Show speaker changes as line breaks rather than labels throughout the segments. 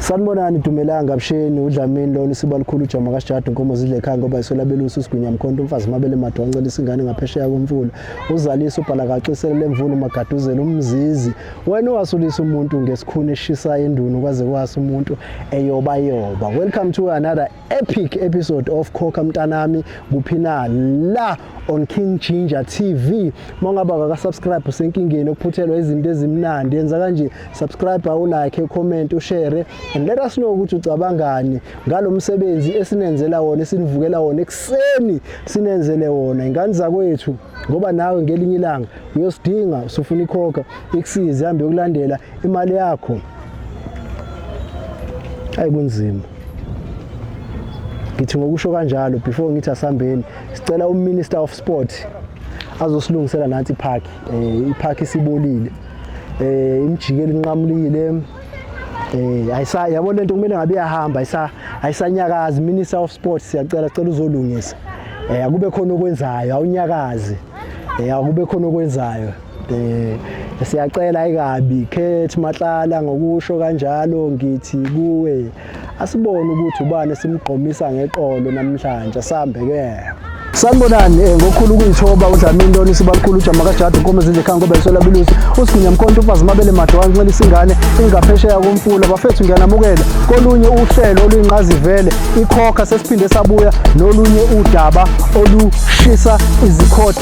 Sanibonani Dumelanga Msheni uDlamini lona isiba likhulu ujama kaSijadu inkomo zidle ekhaya ngoba isola belusi uSigwinya Mkhonto umfazi mabele madwa uncela isingane ngaphesheya komfula uzalisa ubhala kaxisele lemvula umagaduzela umzizi wena wasulisa umuntu ngesikhuni eshisa endunu kwaze kwasa umuntu eyoba yoba welcome to another epic episode of Khokha Mntanami kuphi na la on King Ginger TV mongaba ka subscribe usenkingeni okuphuthelwa izinto ezimnandi yenza kanje subscribe u like comment u share and let us know ukuthi ucabangani ngalomsebenzi esinenzela wona esinivukela wona ekseni sinenzele wona ingane zakwethu ngoba nawe ngelinye ilanga uyosidinga usufuna ikhokha ikusize hambe yokulandela imali yakho ayi kunzima ngithi ngokusho kanjalo before ngithi asambeni sicela uminister of sport azosilungisela nathi ipark eh ipark isibolile eh imjikeli inqamulile eh ayisa yabo lento kumele ngabe yahamba ayisa ayisanyakazi minister of sports siyacela cela uzolungisa eh akube khona okwenzayo awunyakazi eh akube khona okwenzayo Eh siyacela ikabi Kate Matlala ngokusho kanjalo ngithi kuwe asibone ukuthi ubani simgqomisa ngeqolo namhlanje sambe ke sanibonani eh, ngokhulu ukuyithoba udlamini lona isibalukhulu ujama kajade inkomo ezinje khanga ngoba isola bilusi usigunya mkhonto ufazi mabele made wangincela isingane ingaphesheya komfula bafethu ngiyanamukela kolunye uhlelo oluyinqazivele ikhokha sesiphinde sabuya nolunye udaba olushisa izikhotha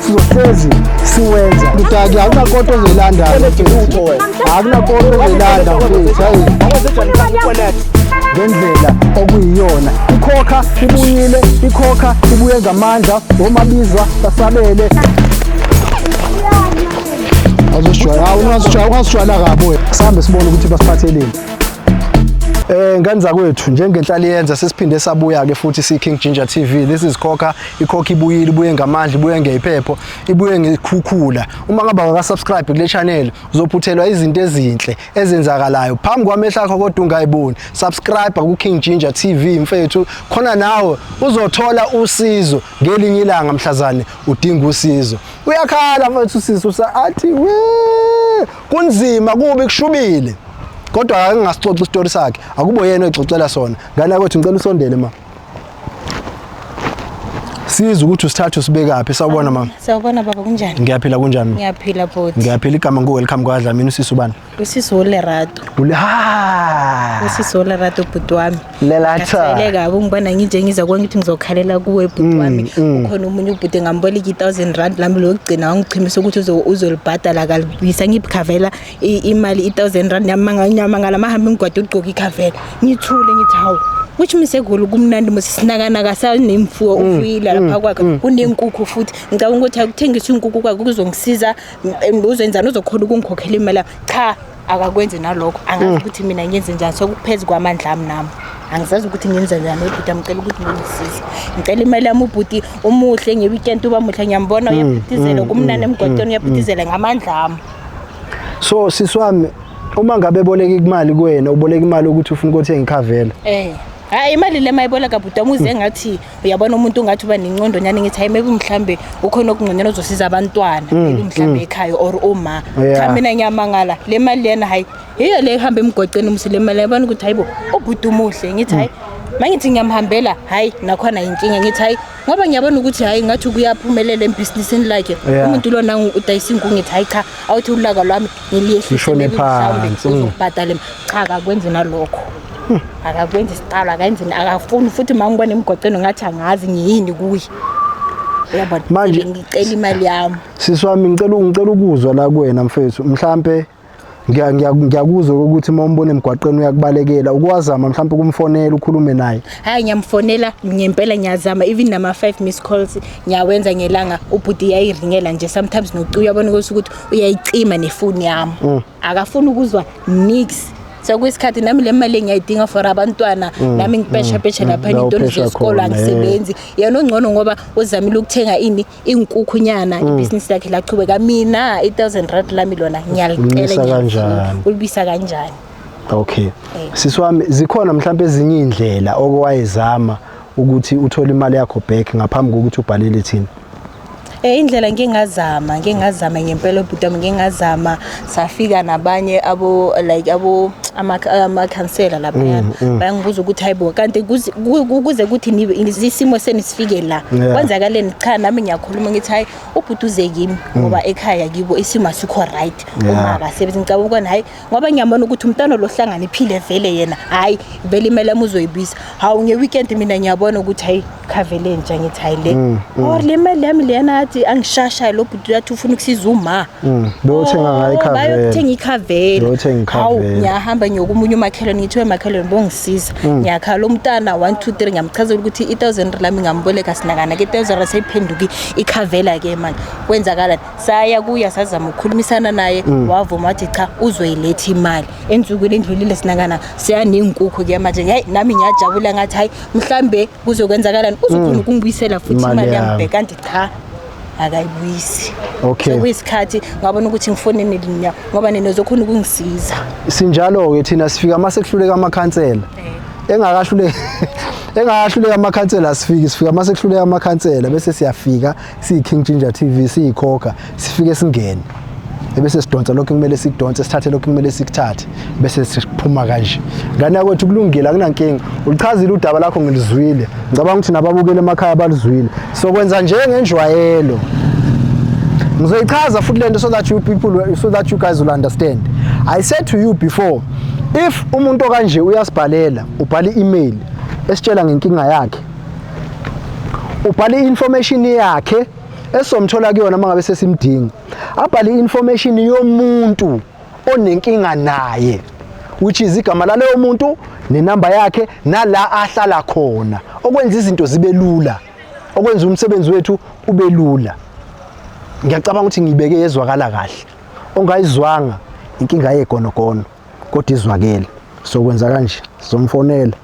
sizohlezi siwenza mdaki akunakonto ozoyilanda akunakonto ozoyilanda mfethu hayi ngendlela okuyiyona ikhokha ibuyile ikhokha ibuye ngamandla womabizwa basabele azosijwayela awungasijwayela ungasijwayela kabi wena sihambe sibone ukuthi basiphatheleni Eh ngane zakwethu njengenhlali yenza sesiphinde sabuya ke futhi si King Ginger TV this is Khokha ikhokha ibuyile ibuye ngamandla ibuye ngeyiphepho ibuye ngekhukhula uma ngaba wakasubscribe kule channel uzophuthelwa izinto ezinhle ezenzakalayo phambi kwamehla akho kodwa ungayiboni subscribe ku King Ginger TV mfethu khona nawe uzothola usizo ngelinye ilanga mhlazane udinga usizo uyakhala mfethu sisi usa athi we kunzima kubi kushubile kodwa akangasicoxa isitori sakhe akubo yena exoxela sona ngane yakwethu ngicela usondele ma siza ukuthi usithathe usibekaphi sawubona mama sawubona baba kunjani
ngiyaphila kunjani ngiyaphila
bhuti ngiyaphila
igama ngu welcome
kwadla mina usisi ubani usisi ulerato
ule ha usisi ulerato bhuti wami lelatha ngile
kabi ngibona
nginje ngiza kwangithi ngizokhalela kuwe bhuti mm, wami mm. ukhona umunye ubhuti ngamboleka i1000 rand lami lokugcina wangichimisa ukuthi uzolibhadala kalibisa ngibukhavela imali i-thousand rand yamangala mahambe ngigwade ugqoke ikhavela ngithule ngithi hawu which means egoli kumnandi mose sinakanaka sanemfuyo mm, ufuyile lapha mm, kwakhe mm. kunenkukhu futhi ngicabanga ukuthi akuthengisa inkukhu kwakhe kuzongisiza uzenzani uzokhona ukungikhokhela imali cha akakwenzi nalokho angazi ukuthi mina ngenze njani sokuphezu kwamandla ami nami angizazi ukuthi ngenza njani ubhuti amcela ukuthi ngingisize ngicela imali yami ubhuti umuhle ngeweekend uba muhle ngiyambona uyaphithizela kumnani emgwaqeni uyaphithizela ngamandla ami so
sisi wami uma ngabe boleka imali kuwena uboleka imali ukuthi ufuna ukuthenga ikhavela eh hayi
imali le mayiboleka bhuti wami uze ngathi uyabona umuntu ungathi uba nencondo nyani ngithi hayi maybe mhlambe ukhona okungconyana ozosiza abantwana mm, maybe mhlambe mm. ekhaya or uma cha mina ngiyamangala le mali lena hayi yiyo le ihamba emgwaqeni umsi le mali yabona ukuthi hayibo ubhuti umuhle ngithi hayi mangithi ngiyamhambela hayi nakhona yinkinga ngithi hayi ngoba ngiyabona ukuthi hhayi ngathi kuyaphumelela embhizinisini lakhe Yeah. umuntu lona ngu- udayisa inkungu ngithi hhayi cha awuthi ulaka lwami Lishone phansi. ngiliyehliseuzokubhadale cha akakwenzi nalokho akakwenzi isiqalo akayenzi akafuni futhi ma ngibona emgwaqeni ngathi angazi ngiyini kuye uyabona Manje- ngicela imali yami sisi wami ngicela
ngicela ukuzwa la kuwena mfethu mhlampe ngiyakuzwa ukuthi uma umbona emgwaqeni uyakubalekela ukwazama mhlawumbe ukumfonela ukhulume naye hayi ngiyamfonela
ngempela ngiyazama even nama 5 miss calls ngiyawenza ngelanga ubhuti yayiringela nje sometimes nocu uyabona ukuthi ukuthi uyayicima nefoni yami mm. akafuni ukuzwa nix sekuyisikhathi nami le mali engiyayidinga for abantwana mm, nami ngipesha mm, pesha lapha into zesikole angisebenzi yena ongcono ngoba uzamile ukuthenga ini inkukhunyana mm. ibhizinisi lakhe lachubeka mina i-thousand rand lami lona ngiyalicela ulibisa
kanjani
okay eh.
sisi wami zikhona mhlawumbe ezinye iy'ndlela okowayezama ukuthi uthole imali yakho back ngaphambi kokuthi ubhalele thina Eh indlela
ngingazama ngingazama ngempela ubhuti wami ngingazama safika nabanye abo like abo amakhansela laphayana mm, mm. bayangibuza ukuthi hayibo kanti kuze kuthi isimo seni sifike la kwenzakaleni cha nami ngiyakhuluma ngithi hayi ubhuduze kimi mm. ngoba ekhaya kibo isimo asikho right uma akasebenzi ngicabanga ukona hayi ngoba ngiyabona ukuthi umntana lohlangana iphile vele yena hayi vele imele amuzoyibisa hawu nge-weekend mina ngiyabona ukuthi hayi khave lentsha ngithi hayi le Mm, mm. or le mali yami leyana athi angishashayo lo bhuti uyathi ufuna ukusiza uma Mm, beyothenga ngayo
ikhavela. Oh, bayothenga ikhavela
Beyothenga ikhavela. Hawu, ngiyahamba ngiyoka omunye umakhelwane ngithi we makhelwane bongisiza Mm. ngiyakhala lo mntana 1 2 3 ngiyamchazela ukuthi i-thousand rand lami ngamboleka sinakana ke i-thousand rand seyiphenduke ikhavela ke manje kwenzakalani saya kuya sazama ukukhulumisana naye Mm. wavuma wathi cha uzoyiletha imali ensukwini endlulile sinakana seyaney'nkukhu ke manje yayi nami ngiyajabula ngathi hayi mhlambe kuzokwenzakalani uzokhona mm. ukungibuyisela futhi imali yami kanti cha akayibuyisi okay
sokuyisikhathi ngabona
ukuthi ngifonini linya ngoba nina uzokhona ukungisiza sinjalo ke
thina sifika mase kuhluleka amakhansela eh. engakahluleka engakahluleka amakhansela asifiki sifika mase kuhluleka amakhansela bese siyafika siyi-king ginger tv siyikhokha sifike singene ebese sidonsa lokho kumele sikudonse sithathe lokho kumele sikuthathe bese siphuma kanje ngane yakwethu kulungile akunankinga ulichazile udaba lakho ngilizwile ngicabanga ukuthi nababukeli emakhaya baluzwile sokwenza njengenjwayelo ngizoyichaza futhi lento so that you people so that you guys will understand i said to you before if umuntu okanje uyasibhalela ubhala i-email esitshela ngenkinga yakhe ubhala i-information yakhe esomthola kuyona uma ngabe sesimdinga abhale i-information yomuntu onenkinga naye which is igama laleyo muntu nenamba yakhe nala ahlala khona okwenza izinto zibe lula okwenza umsebenzi wethu ube lula ngiyacabanga ukuthi ngiyibeke yezwakala kahle ongayizwanga inkinga yegonogono kodwa izwakele sokwenza kanje somfonela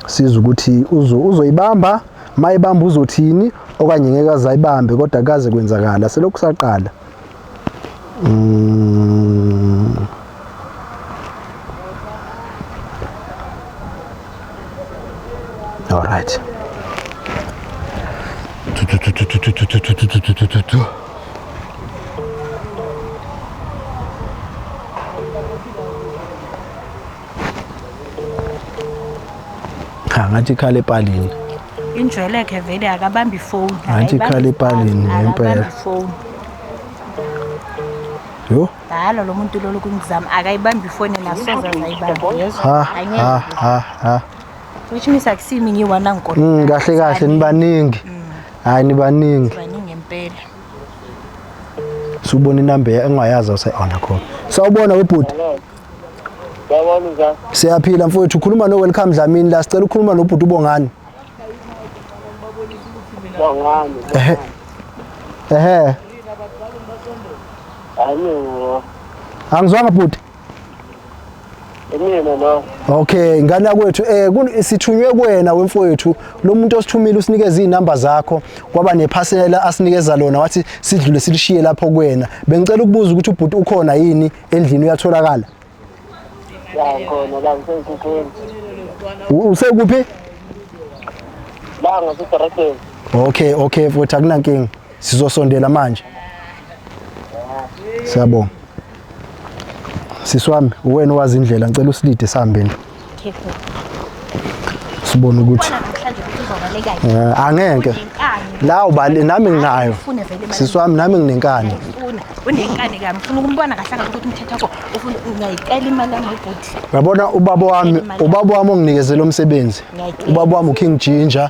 siza ukuthi uzoyibamba mayibamba uzothini okanye ngeke azayibambe kodwa kaze kwenzakala selokhu saqala mm. all right cha ngathi ikhala epalini injwelekhe
vele akabambi ifoni ngathi ikhala epalini
ngempela yo dala lo muntu
lolu kungizama akayibambi ifoni nasoza zayibamba
which means
akusimi ngiwana ngikona mm, kahle kahle nibaningi
mm. hayi nibaningi baningi impela subona inamba engayazi awusayiona khona sawubona webhuti
Yabona njani? siyaphila mfowethu ukhuluma
no welcome dlamini la sicela ukukhuluma nobhuti ubongani
Bongani. ehe ehe Ayini. angizwanga
bhuti Imina
lo. Okay, ngane
yakwethu eh kun- sithunywe kuwena wemfowethu lo muntu osithumile usinikeza izinamba zakho kwaba nephasela asinikeza lona wathi sidlule silishiye lapho kuwena. Bengicela ukubuza ukuthi ubhuti ukhona yini endlini uyatholakala. La ngikhona
la ngisenkukweni. U-
Usekuphi?
La ngisedorekeni. Okay, okay
mfowethu akunankinga. Sizosondela manje. Siyabonga. Sisi wami uwena owazi indlela ngicela usilide sihambe nje. Sibone ukuthi eh, angeke la ubali nami nginayo sisi wami nami nginenkani unenkani
kami ufuna ukumbona kahle kahle ukuthi umthetho wakho ufuna ungayicela imali yami ubhuti yabona ubaba
wami ubaba wami onginikeze lo msebenzi ubaba wami uKing Ginger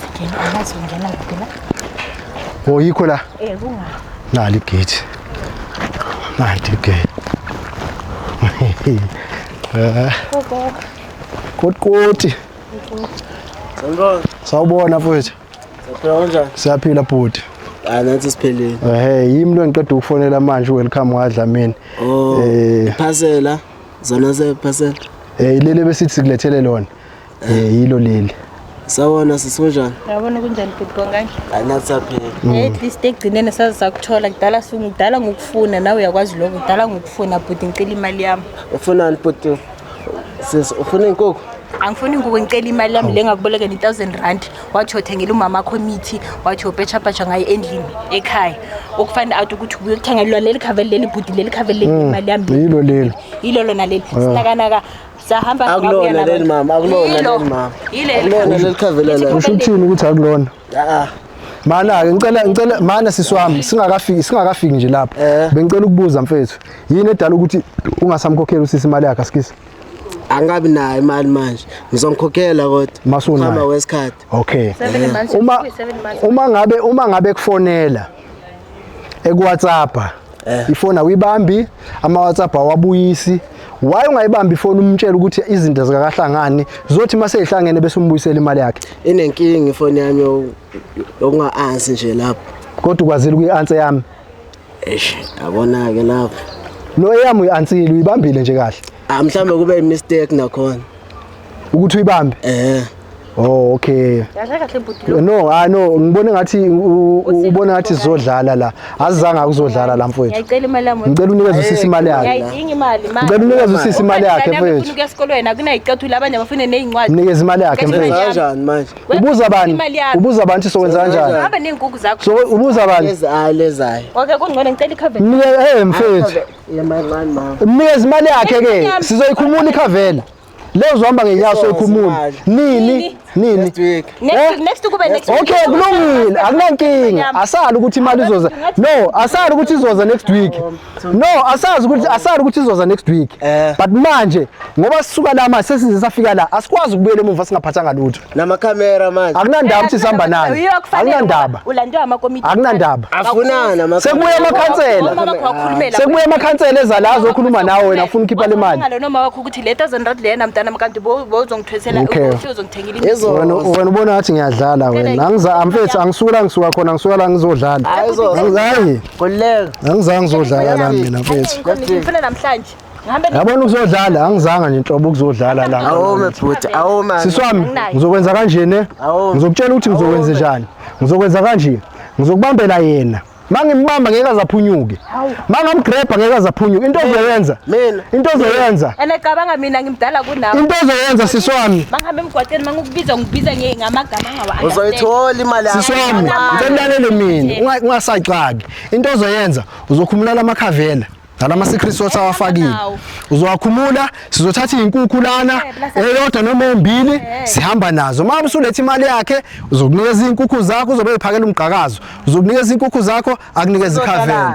Singena
angazi ungena kuphi la.
Oh yikho la. Eh kunga.
Nali gate.
Nali gate. Eh. Gogo. Kodkoti.
Sanibona. Sawubona
mfowethu. Siyaphila kanjani?
Siyaphila bhuti.
Ah nathi siphelile.
Eh yimi lo ngiqeda
ukufonela manje welcome wadlamini. Oh. Eh
phasela. Zona ze phasela. Eh ilele besithi
sikulethele lona. Eh yilo leli. Sawona
sisonjani?
Yabona kunjani bhuti konke?
Anatsaphela. Mm. Eh, at least egcineni
saze sakuthola kudala sungidala ngokufuna nawe uyakwazi lokho kudala ngokufuna bhuti ngicela imali yami. Ufunani bhuti?
Sis ufuna inkukhu? angifuni nguwe ngicela
imali yami le ngakubolekela i-thousand rand wathi othengela umama akho imithi wathi opetshapatsha ngayo endlini ekhaya okufanele out ukuthi ubuye ukuthengelwa leli khaveli leli bhudi leli khaveli leli mm, imali yami yilo leli yilo lona leli sinakanaka sahamba akulona leli mama
akulona leli mama akulona leli khavelela usho uthini ukuthi akulona
ah mana ke ngicela ngicela mana sisi wami singakafiki singakafiki nje lapho eh. bengicela ukubuza mfethu yini edala ukuthi ungasamkhokheli usisi imali yakhe asikisi angabi
nayo imali manje ngizongikhokhela kodwa masuna wesikhathi
okay uma uma ngabe uma ngabe kufonela eku WhatsApp eh. ifoni awuyibambi ama-whatsapp awabuyisi why ungayibambi ifoni umtshela ukuthi izinto zikakahlangani zothi uma seyihlangene bese umbuyisela imali yakhe inenkinga ifoni
yami yokunga-ansi nje lapho kodwa ukwazile ukuyi-ansi
yami eish
yabona-ke lapho no eyami
uyi-ansile uyibambile nje kahle Ah mhlambe kube i
mistake nakhona. Ukuthi
uyibambe? Eh. Oh okay. Yadla kahle bhuti. No, ah no, ngibone ngathi ubona ngathi sizodlala la. Azizanga ukuzodlala la mfowethu. Ngiyacela imali yami. Ngicela
unikeze usisi imali
yakhe. Ngiyayidinga imali manje. Ngicela
unikeze usisi
imali yakhe mfowethu. Ngifuna ukuya esikolweni
akunayicathula abanye abafune nezincwadi. Unikeze imali yakhe mfowethu.
Kanjani manje?
Ubuza bani?
Ubuza bani ukuthi sokwenza kanjani? Hamba nezinkukhu zakho. So
ubuza bani?
Ezayo lezayo. Okay
kungcono
ngicela icover. Ngeke eh mfowethu.
Yemancane
mama. Umnikeza imali yakhe ke
Yami. sizoyikhumula ikhavela. Leyo uzohamba ngenyawo Izoza soyikhumula. imali. Nini? Nini? Next week.
Next Eh? week, next week kube
next week. Okay kulungile
akunankinga Yami. asali ukuthi imali izoza no asali ukuthi izoza next week no asazi ukuthi asali ukuthi izoza next week Eh. but manje ngoba sisuka la manje sesize safika la asikwazi ukubuyela emuva singaphathanga lutho namakhamera manje
akunandaba ukuthi sihamba nani
akunandaba ulandiwa amakomiti
akunandaba afunana
amakhamera
sekubuya amakhansela
Uma wakho wakhulumela sekubuya amakhansela ezalazo okhuluma nawe wena afuna ukhipha le mali Wakhulumela noma wakho ukuthi le 1000
rand lena mntana mkanti bo- bozongithwesela Okay. ukuthi uzongithengela imithi. Ezo- wena wena ubona
ngathi ngiyadlala wena angiza amfethu angisuka la ngisuka khona ngisuka la ngizodlala Hayi, zo- Angi- hayi Khululeka. angizange ngizodlala la mina mfethu Ngifuna namhlanje
Ngihambe ne- yabona
ukuzodlala angizanga nje nhlobo ukuzodlala la Awome bhuti, awoma.
sisi wami Anginayo. ngizokwenza
kanje ne Awu. ngizokutshela ukuthi ngizokwenza njani ngizokwenza kanje ngizokubambela yena ma ngimbamba ngeke azaphunyuke ma ngamgrebha ngeke azaphunyuke into ozoyenza Mina. into ozoyenza And cabanga mina
ngimdala kunawe. into ozoyenza sisi
wami Mangihambe emgwaqeni
mangukubiza ngibiza nge- ngamagama angawa Uzoyithola imali yakho.
sisi wami ngicela ulalele
mina unga- ungasaxaki into ozoyenza uzokhumulala amakhavela Dala ama secret sauce eh, awafakile. Uzowakhumula, sizothatha izinkukhu lana, eh, eyodwa noma embili, eh. sihamba nazo. Uma usulethe imali yakhe, uzokunikeza izinkukhu zakho, uzobe uphakela umgqakazo. Uzokunikeza izinkukhu zakho, akunikeze ikhaveni.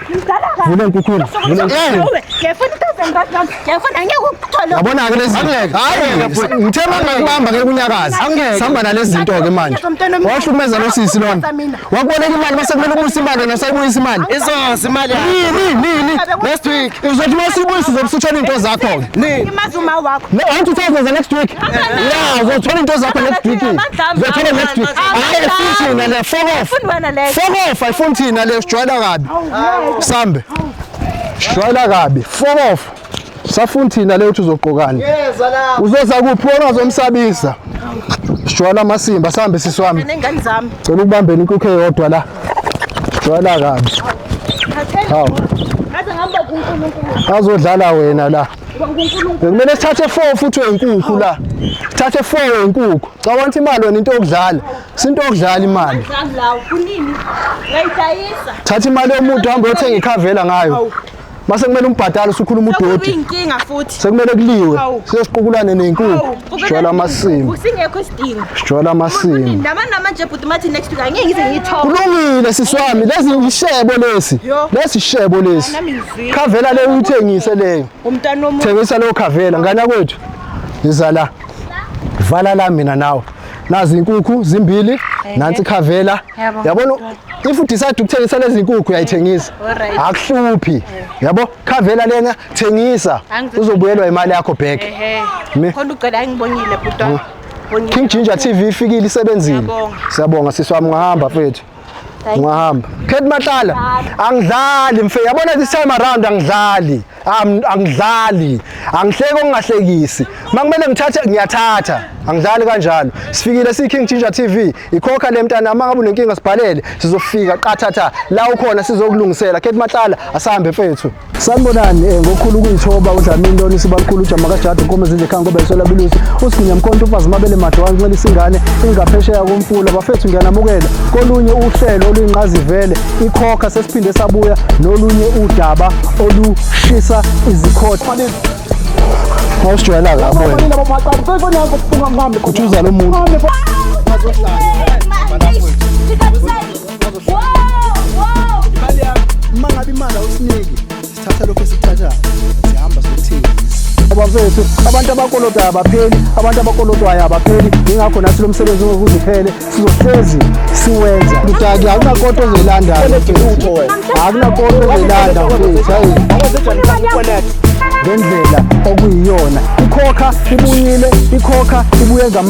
Vula inkukula. Vula inkukula. Ngiyafuna i-thousand rand nami. Ngiyafuna angeke ukuthole. Yabona ke lezi Angeke. Hayi, ngithe uma ngakubamba ngeke unyakaze. Angeke. Sihamba nalezi zinto ke manje. Wahlukumeza lo sisi lona. Wakuboleka imali base kumele ubuyise imali yena usayibuyisa imali. Izoza imali yakho.
Nini nini. Next
week.
Uzothi uma sibuyisa
uzobusutshela into zakho. Nini?
Imazi uma wakho. No, I want to
tell you the next week. Yeah, uzothola into zakho next week. Uzothola next week. Hayi efuni thina le fuck off. Fundi wena le. Fuck off, ayifuni thina le sijwayela kabi. Sambe. Sijwayela kabi. Fuck off. Safuni thina le uthi uzogqokani. Yeza la. Uzoza
kuphi wona
uzomsabisa. Sijwayela amasimba sambe siswami. Nengane zami. Cela
ukubambeni inkukhe
yodwa la. Jwala kabi. Hawu. Ngaze
ngihamba kuNkulunkulu. Azodlala wena
la. Kumele sithathe 4 futhi wenkukhu la. Sithathe 4 wenkukhu. Cawanta imali wena into yokudlala. Sinto yokudlala imali. Ngidlala kunini? Ngayidayisa. Thatha imali
yomuntu hamba
uyothenga ikhavela ngayo. Mase kumele umbhadale usukhuluma udoti. Sekuyinkinga futhi. Sekumele
kuliwe.
Siyosiqukulane
nezinkukhu.
Sijwayela amasimo. Usingekho isidingo.
Sijwayela amasimo.
Ndaba namanje bhuti
mathi next week angeke ngize ngithobe. Kulungile sisi wami
lezi yishebo lesi. Lesi shebo
lesi.
Khavela
le uyithengise
leyo. Umntana omuhle. Thengisa
leyo khavela
ngana kwethu. Yiza la. Vala la mina nawe. nazi inkukhu zimbili nansi khavela yabona
if
udecide ukuthengisa lezi nkukhu uyayithengisa akuhluphi yabo khavela lena thengisa uzobuyelwa
imali yakho back
khona ucela angibonile
bhuti King Ginger
TV ifikile isebenzile. Siyabonga
sisi wami
ngahamba mfethu. ungahamba khethi mahlala angidlali mfe yabona this time around angidlali Am- angidlali angihleki okungahlekisi uma kumele ngithathe ngiyathatha angidlali kanjalo sifikile siyi-king ginger tv ikhokha le mntana uma ngabe unenkinga sibhalele sizofika qathatha la ukhona sizokulungisela khethi mahlala asihambe mfethu sanibonani um ngokukhulu ukuyithoba udlamini lona isibalikhulu ujama kajada unkome zinje khanga ngoba isola bilusi usiginya mkhonto ufazi mabele made wancelisa ingane ingaphesheya komfula bafethu ngiyanamukela kolunye uhlelo oluyinqazivele ikhokha sesiphinde sabuya nolunye udaba olushisa izikhotha awusijwayelaka abona kuthuza lo muntu abafethu abantu abakolotwayo abapheli abantu abakolotwayo abapheli yingakho nathi lo msebenzi ungokuze uphele sizohlezi siwenza kudaki akunakoto ozoyilanda akunakoto ozoyilanda mfethu hayi ngendlela okuyiyona ikhokha ibuyile ikhokha ibuye ngamanye